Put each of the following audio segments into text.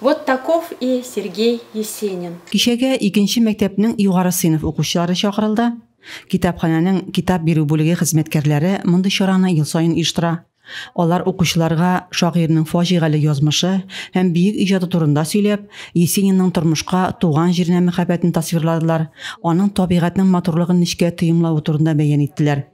Вот таков и Сергей Есенин. Кичәгә икенче мәктәпнең югары сыйныф укучылары чакырылды. Китапханәнең китап бирү бүлеге хезмәткәрләре мондый чараны ел саен оештыра. Алар укучыларга шагыйрьнең фаҗигале язмышы һәм биек иҗаты турында сөйләп, Есенинның тормышка, туган җиренә мәхәббәтен тасвирладылар, аның табигатьнең матурлыгын нечкә тоемлавы турында бәян иттеләр.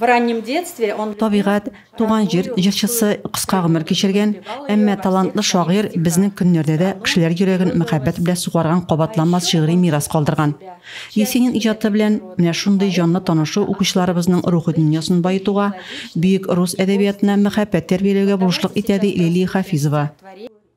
Табигать, туган җир җырчысы кыска гомер кичергән, әмма талантлы шагыйрь безнең көннәрдә дә кешеләр йөрәген мәхәббәт белән сугарган кабатланмас шигъри мирас калдырган. Есенин иҗаты белән менә шундый җанлы танышу укучыларыбызның рухи дөньясын баетуга, бөек рус әдәбиятына мәхәббәт тәрбияләүгә булышлык итә, ди Лилия Хафизова.